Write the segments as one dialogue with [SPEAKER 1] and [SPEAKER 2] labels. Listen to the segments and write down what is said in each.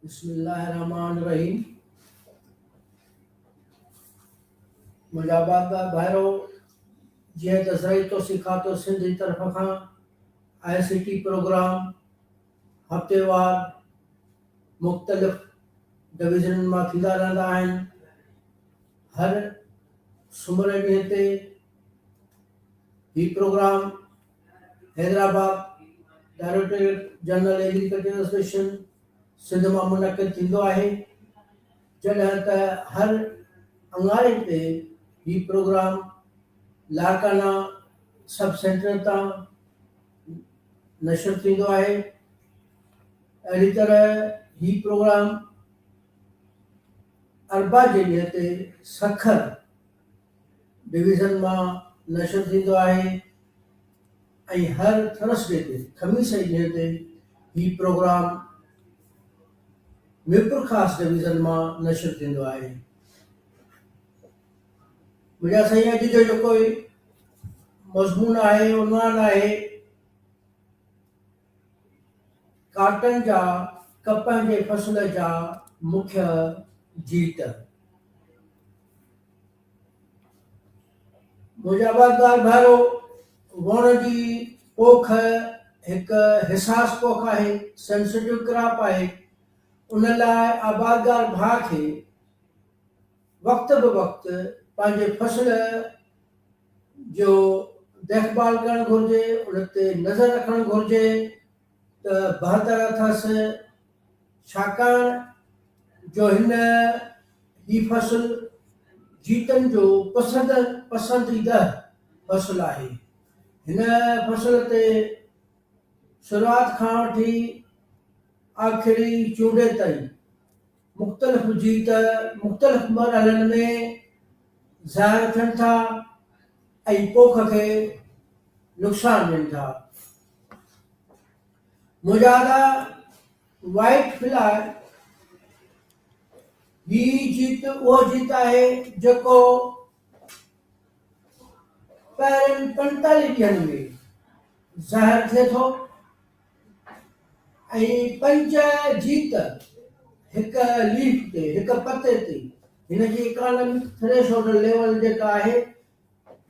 [SPEAKER 1] بسم الله الرحمٰن الرحيم منهنجا بابا ڀائرو جيئن ته زرعي توسيع کاتو سنڌ جي طرف کان آء سي ٽي پروگرام هفتيوار مختلف ڊويزنن مان ٿيندا رهندا آهن هر سومر جي ڏينهن تي هي programme Hyderabad directorate general agriculture association Sindh مان منعقد ٿيندو آهي جڏهن ته هر اڱاري تي هي پروگرام لاڙڪانا سب سينٽر تان نشر ٿيندو آهي اهڙي طرح هي پروگرام اربع جي ڏينهن تي سکر ڊويزن مان نشر ٿيندو آهي ۽ هر ٿرس ڊي تي، خميس جي ڏينهن تي، هي پروگرام ميرپورخاص ڊويزن مان نشر ٿيندو آهي. ميڊيا سائين اڄ جو جيڪو مضمون آهي عنوان آهي. ڪاٽن جا ڪپهه جي فصل جا مکيه جيت. مجابادار ڀائرو، ووڻ جي پوک هڪ حساس پوک آهي، Sensitive Crop، آهي، ان لاء آبادگار ڀاء کي وقت به وقت پنهنجي فصل، جو ديکڀال ڪرڻ گهرجي، ان تي نظر رکڻ گهرجي ته بهتر اٿس، ڇاڪاڻ جو هن هي فصل جيتن جو پسند پسنديده فصل آهي. هن فصل تي شروعات کان وٺي آخري چونڊي تائين. مختلف هجي ته مختلف مرحلن ۾ ظاهر ٿين ٿا ۽ پوک کي نقصان ڏين ٿا. مجاهده وائيٽ فلائي هي جيت اهو جيت آهي جيڪو پهرين پنجتاليهه ڏينهن ۾ ظاهر ٿئي ٿو. ۽ پنج جيت هڪ ليف تي، هڪ پتي تي، هن جي اڪانامڪ ٿريشولڊ ليول جيڪا آهي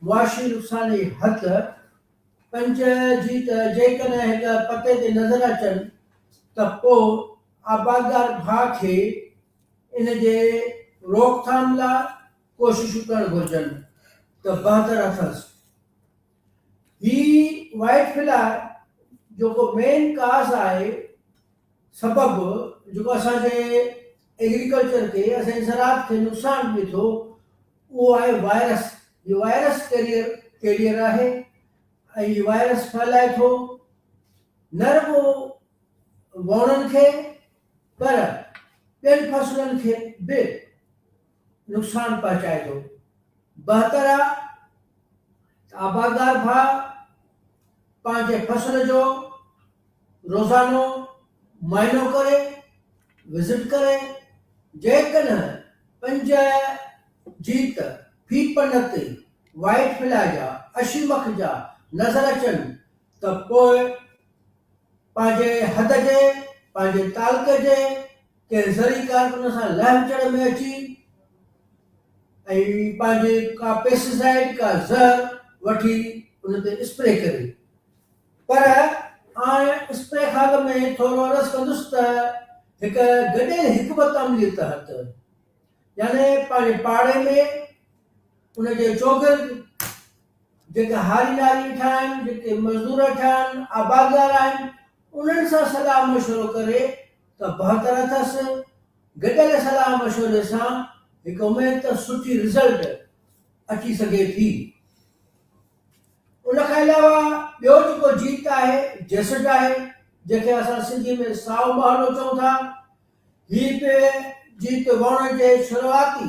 [SPEAKER 1] معاشي نقصان جي حد، پنج جيت جيڪڏهن هڪ پتي تي نظر اچن ته پوء آبادگار ڀاء کي ان جي روڪٿام لاء ڪوششون ڪرڻ گهرجن ته بهتر اٿس. هي وائيٽ فلائي جيڪو مين ڪاز آهي سبب جيڪو اسان جي ايگريڪلچر کي اسان جي زراعت کي نقصان ڏي ٿو اهو آهي وائرس هي وائرس ڪيريئر ڪيريئر آهي ۽ هي وائرس ڦهلائي ٿو نه رڳو ووڻن کي پر ٻين فصلن کي به نقصان پهچائي ٿو. بهتر آ ته آبادگار ڀاء پنهنجي فصل جو روزانو معائنو ڪري، وزٽ ڪري، جيڪڏهن پنج جيت في پن تي وائيٽ فلائي جا اشي مک جا نظر اچن ته پوء پنهنجي حد جي، پنهنجي تعلقي جي، ڪنهن زرعي ڪارڪن سان لهه چڙهه ۾ اچي ۽ پنهنجي ڪا پيسٽيسائيڊ، ڪا زهر وٺي ان تي اسپري ڪري. پر آئن اسپري خاڪ ۾ ٿورو عرض ڪندس ته هڪ گڏيل حڪمت عمليء تحت يعني پنهنجي پاڙي ۾ ان جي چوگرد جيڪي هاري ناري ويٺا آهن، جيڪي مزدور ويٺا آهن، آبادگار آهن، انهن سان صلاح مشورو ڪري ته بهتر اٿس، گڏيل صلاح مشوري سان هڪ اميد ته سٺي رزلٽ اچي سگهي ٿي. ان کان علاوه ٻيو جيڪو جيت آهي جيسٽ آهي جنهن کي اسان سنڌي ۾ سائو مهاڻو چئون ٿا. هي به جيت وهڻ جي شروعاتي.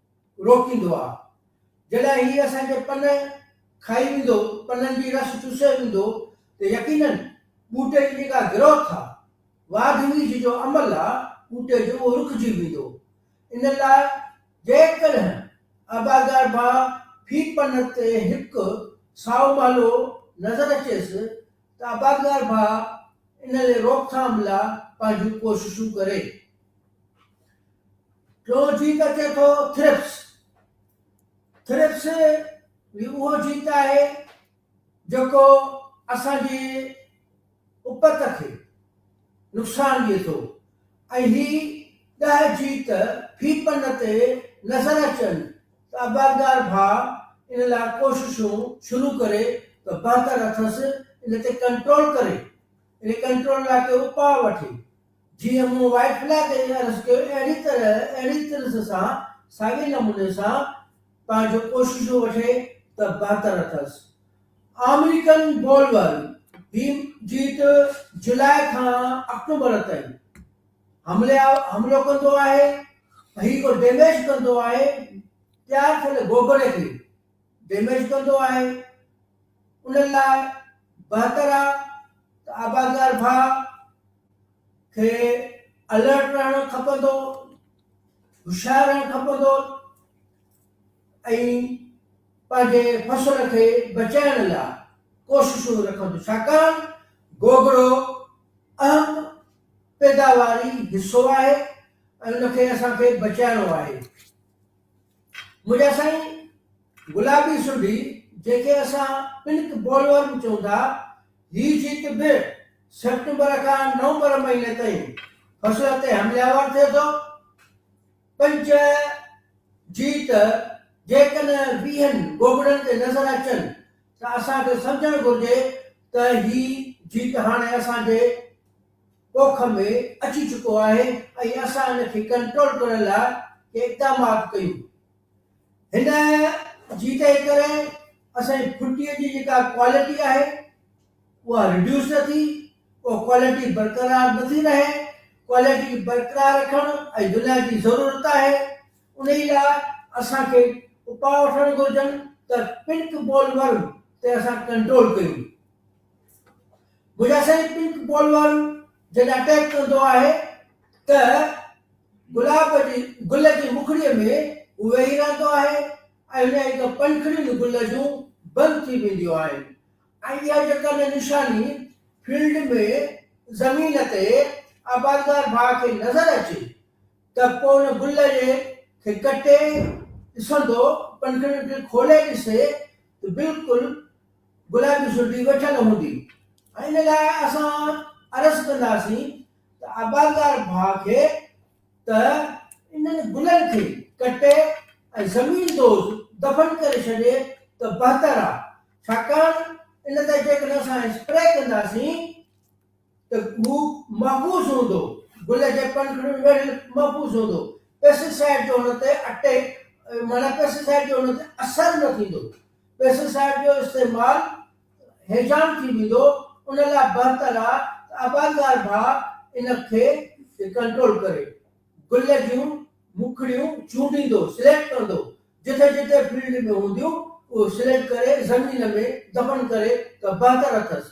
[SPEAKER 1] روڪيندو آ جڏهن هي اسان جي پن کائي ويندو پنن جي رس چوسي ويندو ته يقينن ٻوٽي جي جيڪا گروٿ آ واڌ ويجهه جو عمل آ ٻوٽي جو اهو رڪجي ويندو ان لاء جيڪڏهن آبادگار ڀاء في پن تي هڪ سائو مهلو نظر اچيس ته آبادگار ڀاء ان ري روڪٿام لا پنهنجون ڪوششون ڪري. ٽيون جيت اچي ٿو ٿرپس. ٿرپس هي اهو جيت آهي جيڪو اسان جي اپت کي نقصان ڏئي ٿو ۽ هي ڏهه جيت في پن تي نظر اچن ته عبادگار ڀاء ان لاء ڪوششون شروع ڪري ته بهتر اٿس ان تي ڪنٽرول ڪري ان ڪنٽرول لاء ڪي اپاء وٺي جيئن مون وائيٽ بليڪ کي عرض ڪيو اهڙي طرح اهڙي طرز سان ساڳئي نموني سان پنهنجون ڪوششون وٺي ته بهتر اٿس آمريڪن بولور هي جيت جولاء کان آڪٽوبر تائين حملي حملو ڪندو آهي هي ڪو ڊيميج ڪندو آهي تيار ٿيل گوگڙي کي ڊيميج ڪندو آهي ان لاء بهتر آهي ته آبادگار ڀاء کي الرٽ رهڻ کپندو، هوشيار رهڻ کپندو ۽ پنهنجي فصل کي بچائڻ لاء ڪوششون رکندو ڇاڪاڻ گوگڙو اهم پيداواري حصو آهي ۽ ان کي اسان کي بچائڻو آهي. منهنجا سائين گلابي سنڍي جيڪي اسان پنڪ بولورم به چئون ٿا، هي جيت به سيپٽمبر کان نومبر مهيني تائين فصل تي حملياور ٿئي ٿو. پنچ جيت جيڪڏهن ويهن ڳوڳڙن تي نظر اچن ته اسان کي سمجهڻ گهرجي ته هي جيت هاڻي اسان جي ڏوک ۾ اچي چڪو آهي ۽ اسان ان کي ڪنٽرول ڪرڻ لاء ڪي اقدامات ڪيون. هن جي تنهن ڪري اسان جي ڦٽي جي جيڪا ڪوالٽي آهي اها رڊيوس نه ٿي، اها ڪوالٽي برقرار نه ٿي رهي، ڪوالٽي برقرار رکڻ اڄ دنيا جي ضرورت آهي، انهي لاء اسان کي اپاء وٺڻ گهرجن ته پنڪ بول ورم تي اسان ڪنٽرول ڪيون. گجرا سائين پنڪ بال وارو جڏهن اٽيڪ ڪندو آهي ته گلاب جي گل جي مکڙي ۾ هو ويهي رهندو آهي ۽ ان جي پنکڙين گل جون بند ٿي وينديون آهن ۽ اها جيڪا نه نشاني فيلڊ ۾ زمين تي آبادگار ڀاء کي نظر اچي ته پوء ان گل جي کي ڪٽي ڏسندو پنکڙين کي کولي ڏسي ته بلڪل گلابي سربي ويٺل هوندي ۽ ان لاء اسان عرض ڪنداسين ته آبادگار ڀاء کي ته انهن گلن کي ڪٽي ۽ زمين دوز دفن ڪري ڇڏي ته بهتر آ ڇاڪاڻ ان تي جيڪڏهن اسان اسپري ڪنداسين ته هو محفوظ هوندو، گل جي پنکڙين ويڙهيل محفوظ هوندو، پيسٽيسائيڊ جو هن تي اٽيڪ معنيٰ پيسٽيسائيڊ جو هن تي اثر نه ٿيندو، پيسٽيسائيڊ جو استعمال هيجان ٿي ويندو، ان لاء بهتر آ ته آبادگار ڀاء ان کي ڪنٽرول ڪري، گل جون موکڙيون چونڊيندو، سليڪٽ ڪندو، جتي جتي فيلڊ ۾ هونديون اهو سليڪٽ ڪري زمين ۾ دفن ڪري ته بهتر اٿس.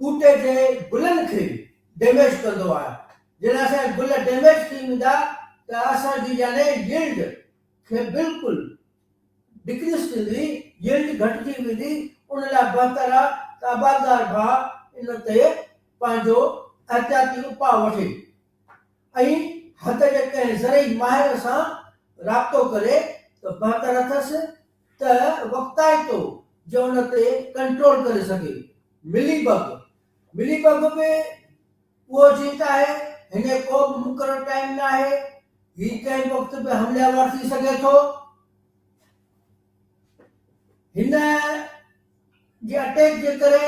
[SPEAKER 1] ٻوٽي جي گلن کي ڊيميج ڪندو آهي جڏهن اسان جا گل ڊيميج ٿي ويندا ته اسان جي يعني يلڊ کي بلڪل ڊڪريس ٿيندي يلڊ گهٽجي ويندي ان لاء بهتر آهي ته آبادگار ڀاء ان تي پنهنجو احتياطي اپاء وٺي ۽ هت جي ڪنهن زرعي ماهر سان رابطو ڪري ته بهتر اٿس ته وقتائتو جو ان تي ڪنٽرول ڪري سگهي. ملي بگ، Milli Bug، به اهو جنس آهي. هن ڪو به مقرر ٽائيم نه آهي. هي ڪنهن به وقت به حملي آور ٿي سگهي ٿو. هن جي اٽيڪ جي ڪري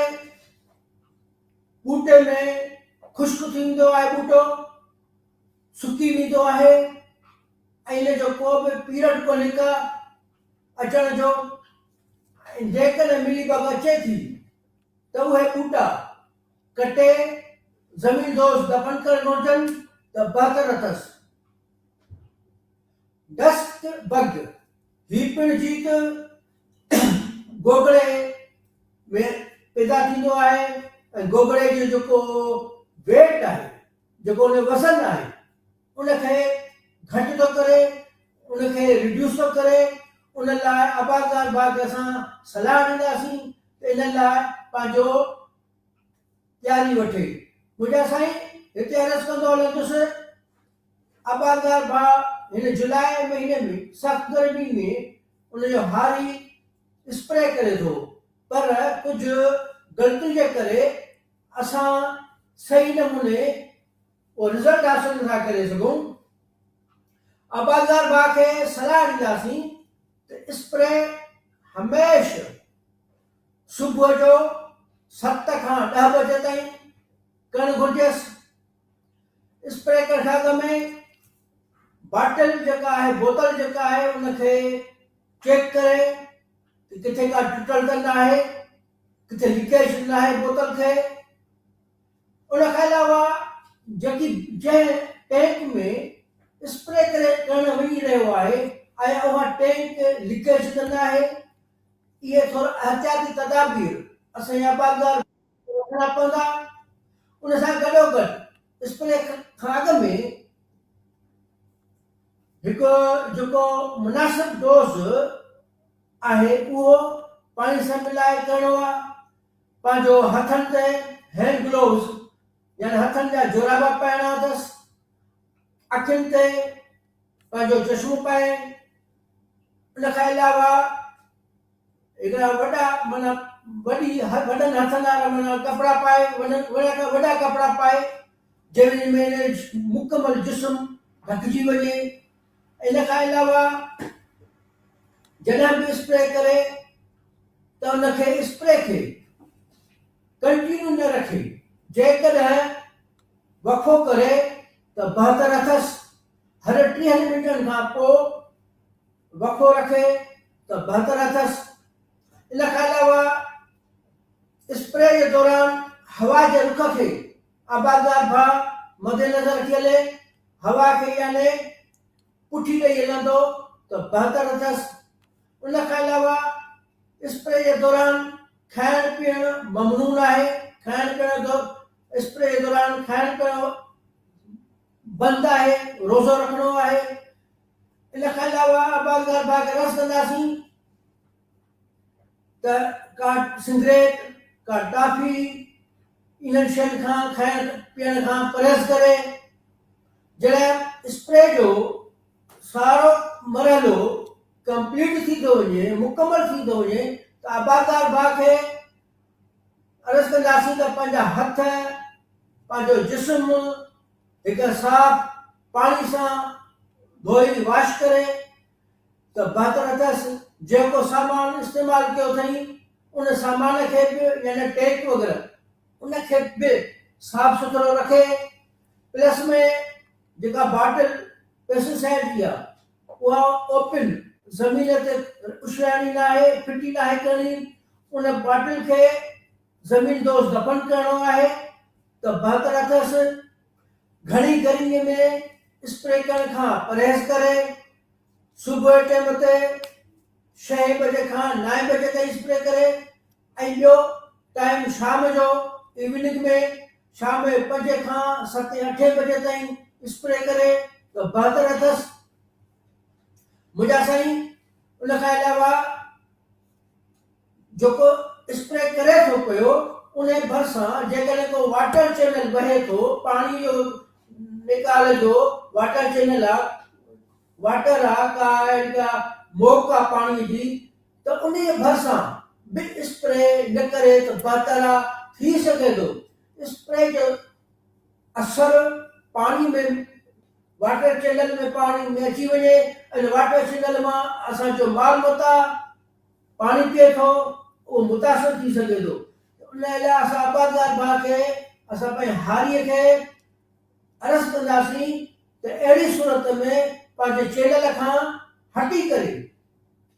[SPEAKER 1] ٻوٽي ۾ خشڪ ٿيندو آهي ٻوٽو. سڪي ويندو آهي ۽ ان جو ڪو به پيرڊ ڪونهي ڪا اچڻ جو ۽ جيڪڏهن ملي بگ اچي ٿي ته اهي ٻوٽا ڪٽي زمين دوز دفن ڪري گهرجن ته بهتر اٿس. ڊسٽ بگ، هي پڻ جيت گوگڙي ۾ پيدا ٿيندو آهي ۽ گوگڙي جو جيڪو ويٽ آهي. جيڪو ان جو وزن آهي ان کي گهٽ ٿو ڪري ان کي ريڊيوس ٿو ڪري ان لاء ابازار باغ کي اسان صلاح ڏينداسين ته ان لاء پنهنجو تياري وٺي منهنجا سائين هتي عرض ڪندو هلندس ابازار باغ هن جولاء مهيني ۾ سخت گرمي ۾ ان جو هاري اسپري ڪري ٿو پر ڪجهه غلطي جي ڪري اسان صحيح نموني اهو رزلٽ حاصل نٿا ڪري سگهون، آبادگار باغ کي صلاح ڏينداسين ته اسپري هميشھ صبح جو ست کان ڏهه بجي تائين ڪرڻ گهرجيس، اسپري ڪرڻ کان اڳ ۾ باٽل جيڪا آهي بوتل جيڪا آهي ان کي چيڪ ڪري ته ڪٿي ڪا ٽٽل ته ناهي. ڪٿي لڪيشن لاء بوتل کئي. ان کان علاوه جيڪي جنهن ٽينڪ ۾ اسپري ڪري ڪرڻ وڃي رهيو آهي آيا اها ٽينڪ لڪيشن ته ناهي. اهي ٿورا احتياطي تدابير اسان جا باغيار رکڻا پوندا. ان سان گڏوگڏ اسپري کان اڳ ۾ هڪ جيڪو مناسب ڊوز آهي اهو پاڻي سان ملائي ڪرڻو آهي پنهنجو هٿن تي هينڊ گلوز يعني هٿن جا جورابا پائڻا اٿس اکين تي پنهنجو چشمو پائي ان کان علاوه هڪڙا وڏا مانا وڏي وڏن هٿن وارا مانا ڪپڙا پائي وڏا وڏا ڪپڙا پائي جنهن ۾ مڪمل جسم ڍڪجي وڃي ان کان علاوه جڏهن به اسپري ڪري ته ان کي اسپري کي ڪنٽينيو نه رکي جيڪڏهن وقفو ڪري ته بهتر اٿس هر ٽيهن منٽن کان پوء وقفو رکي ته بهتر اٿس ان کان علاوه اسپري جي دوران هوا جي رخ کي آبادگار به مدنظر رکي هلي، هوا کي يعني پٺي ڏئي هلندو ته بهتر اٿس. ان کان علاوه اسپري جي دوران کائڻ پيئڻ ممنون آهي، کائڻ پيئڻ جو اسپري جي دوران کائڻ پيئڻ بند آهي، روزو رکڻو آهي. ان کان علاوه آبادگار باغ رس ڪنداسين. ته ڪا سگريٽ، ڪا ٽافي، انهن شين کان کائڻ پيئڻ کان پرهيز ڪري. جڏهن اسپري جو سارو مرحلو ڪمپليٽ ٿي ٿو وڃي، مڪمل ٿي ٿو وڃي ته آبادگار ڀاء کي عرض ڪنداسين ته پنهنجا هٿ، پنهنجو جسم هڪ صاف پاڻي سان ڌوئي واش ڪري، ته باطن اٿس، جنهن ڪو سامان استعمال ڪيو اٿئي، ان سامان کي به يعني ٽيپ وغيره ان کي به صاف سٿرو رکي، پلس ۾ جيڪا باٽل پيسٽ سائيڊ جي آ اها اوپن زمين تي اڇلائڻي ناهي، ڦٽي ناهي ڪرڻي، ان باٽل کي زمين دوز دفن ڪرڻو آهي ته باطن اٿس، گهڻي گرمي ۾ اسپري ڪرڻ کان پرهيز ڪري صبح جي ٽيم تي شئين بجي کان نائين بجي تائين اسپري ڪري ۽ ٻيو ٽائيم شام جو ايوننگ ۾ شام جي پنجين کان ستين اٺين بجي تائين اسپري ڪري ته بهتر اٿس منهنجا سائين ان کان علاوه جيڪو اسپري ڪري ٿو پيو ان ڀرسان جيڪڏهن ڪو واٽر چينل وهي ٿو پاڻي جو نيڪال جو واٽر چينل آ واٽر آ ڪا جيڪا موڪ آ پاڻي جي ته انهي ڀرسان به اسپري نه ڪري ته بهتر آ ٿي سگهي ٿو اسپري جو اثر پاڻي ۾ واٽر چينل ۾ پاڻي ۾ اچي وڃي ان واٽر چينل مان اسان جو مال متاع پاڻي پيئي ٿو اهو متاثر ٿي سگهي ٿو ان لاء اسان آبادگار ڀاء کي اسان پنهنجي هاري کي عرض ڪنداسين ته اهڙي صورت ۾ پنهنجي چينل کان هٽي ڪري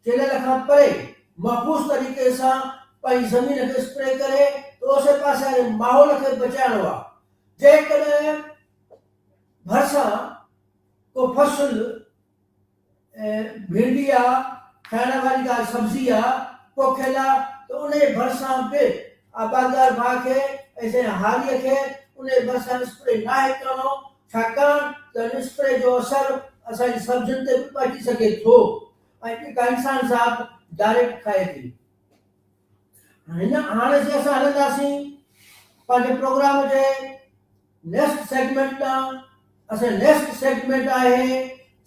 [SPEAKER 1] چينل کان پري محفوظ طريقي سان پنهنجي زمين کي اسپري ڪري ته اوسي پاسي واري ماحول کي بچائڻو آهي جيڪڏهن ڀرسان ڪو فصل ۽ ڀينڊي آ کائڻ واري ڪا سبزي آ پوکيل آ ته ان جي ڀرسان به آبادگار ڀاء کي ۽ سائين هاريء کي ان جي ڀرسان اسپري ناهي ڪرڻو ڇاڪاڻ ته ان اسپري جو اثر اسان جي سبزين تي به پهچي سگهي ٿو ۽ جيڪا انسان ذات ڊائريڪٽ کائي ٿي. هن آڻ جي اسان هلنداسين پنهنجي پروگرام جي نيڪسٽ سيگمينٽ ڏانهن اسان نيڪسٽ سيگمينٽ آهي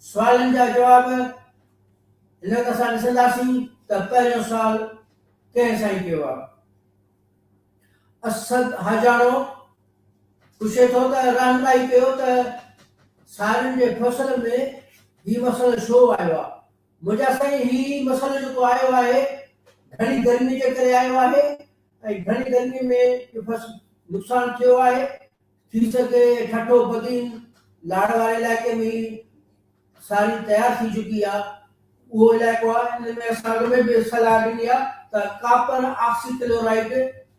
[SPEAKER 1] سوالن جا جواب هن وقت اسان ڏسنداسين ته پهريون سوال ڪنهن سائين ڪيو آهي اسد حاجاڻو پڇي ٿو ته رهنمائي ڪيو ته سارين جي فصل ۾ هي مسئلو ڇو آيو آهي منهنجا سائين هي مسئلو جيڪو آيو آهي گهڻي گرمي جي ڪري آيو آهي ۽ گهڻي گرمي ۾ جو بس نقصان ٿيو آهي ٿي سگهي ٺٽو بدين لاڙ واري علائقي ۾ هي ساري تيار ٿي چڪي آهي اهو علائقو آهي ان ۾ اسان اڳ ۾ به صلاح ڏني آهي ته ڪاپر آڪسي ڪلورائيڊ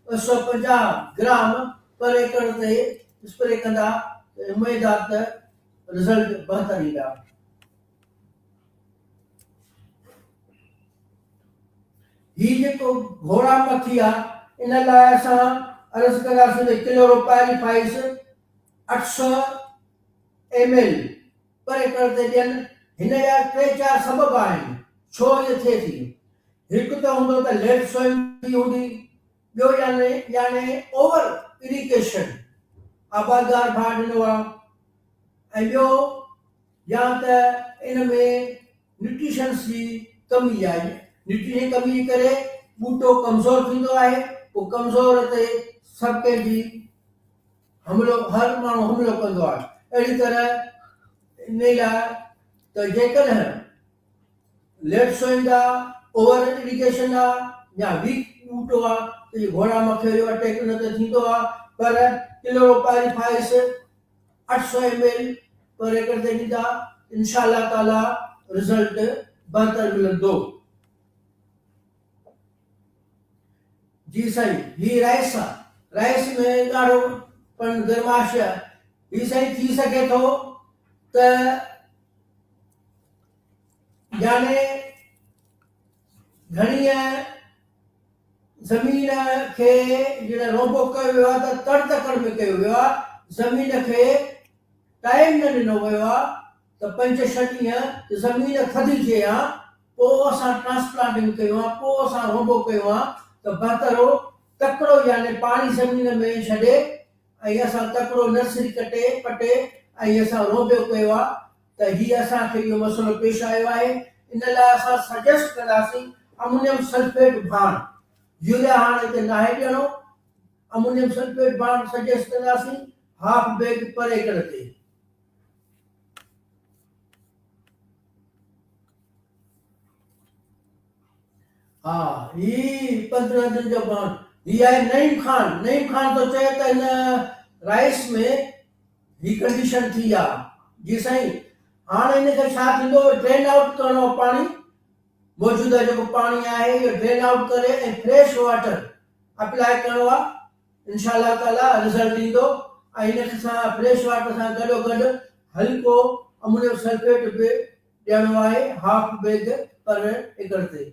[SPEAKER 1] ٻه سؤ پنجاهه گرام پر ايڪڙ تي اسپري ڪندا ته اميد آهي ته رزلٽ بهتر ايندا. هي جيڪو گهوڙا مٿي آ ان لاء اسان عرض ڪنداسين ته ڪلو روپائلي فائيس اٺ سؤ ايم ايل پر ايڪڙ تي ڏين هن جا ٽي چار سبب آهن ڇو ايئن ٿئي ٿي هڪ ته هوندو ته ليڊ سوئنگ ٿي هوندي ٻيو يعني يعني اوور اريگيشن آبادگار ڀاء ڏنو آ ۽ ٻيو يا ته ان ۾ نيوٽريشنس جي ڪمي يا نيوٽريشن جي ڪمي جي ڪري ٻوٽو ڪمزور ٿيندو آهي پوء ڪمزور تي سڀ ڪنهن جي حملو هر ماڻهو حملو ڪندو آهي اهڙي طرح ان لاء ته جيڪڏهن ليٽ سوئيندا اوور ايريگيشن آ يا ويڪ ٻوٽو آ ته گهوڙا مکيو جو اٽيڪ ان تي ٿيندو آ پر ڪلوروپائريفائيس اٺ سؤ ايم ايل پر ايڪڙ تي ڏيندا انشاء الله تعالي رزلٽ بهتر ملندو. جي سائين هي رائس آ رائس ۾ ڳاڙهو پڻ گرماش آ هي سائين ٿي سگهي ٿو ته يعني گهڻيء زمين کي جڏهن روبو ڪيو ويو آهي ته تڙ تڪڙ ۾ ڪيو ويو آهي، زمين کي ٽائيم نه ڏنو ويو آهي ته پنج ڇهه ڏينهن ته زمين ٿڌي ٿئي ها پوء اسان ٽرانسپلانٽنگ ڪيون ها پوء اسان روبو ڪيون ها ته بهتر هو تڪڙو يعني پاڻي زمين ۾ ڇڏي ۽ اسان تڪڙو نرسري ڪٽي پٽي ۽ اسان روبو ڪيو ها ته هي اسان کي اهو مسئلو پيش آيو آهي ان لاء اسان سجيسٽ ڪنداسين امونيم سلفيٽ ڀاڻ، يوريا هاڻ هتي ناهي ڏيڻو، امونيم سلفيٽ ڀاڻ سجيسٽ ڪنداسين هاف بيگ پر ايڪڙ تي. ها هي پندرهن ڏينهن جو ڀاڻ هي آهي نعيم خان، نعيم خان ٿو چئي ته هن رائس ۾ هي ڪنڊيشن ٿي آ جي سائين هاڻ ان کي ڇا ٿيندو ڊرين آئوٽ ڪرڻو آ پاڻي موجوده جيڪو پاڻي آهي اهو ڊرين آئوٽ ڪري ۽ فريش واٽر اپلاء ڪرڻو آ انشاء الله تعالي رزلٽ ايندو ۽ ان سان فريش واٽر سان گڏو گڏ هلڪو امونيم سلفيٽ به ڏيڻو آهي هاف بيگ پر ايڪڙ تي.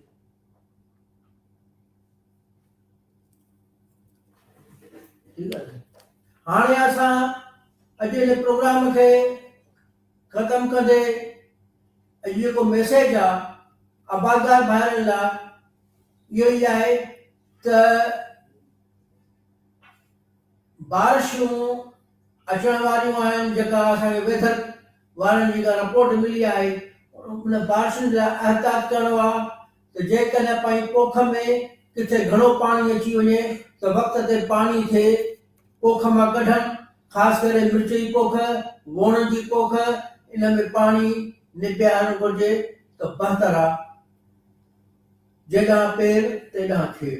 [SPEAKER 1] هاڻي اسان اڄ جي پروگرام کي ختم ڪندي اڄ جيڪو ميسيج آ آبادگار ڀائرن لا اهو ئي آهي ته بارشون اچڻ واريون آهن جيڪا اسان کي ويڌر وارن جيڪا رپورٽ ملي آهي ان بارشن جا احتياط ڪرڻو آ ته جيڪڏهن پائين پوک ۾ ڪٿي گهڻو پاڻي اچي وڃي ته وقت تي پاڻي کي پوک مان ڪڍڻ، خاص ڪري مرچ جي پوک، ووڻ جي پوک ان ۾ پاڻي نبيهارڻ گهرجي ته بهتر آ. جيڏانهن پير تيڏانهن کير.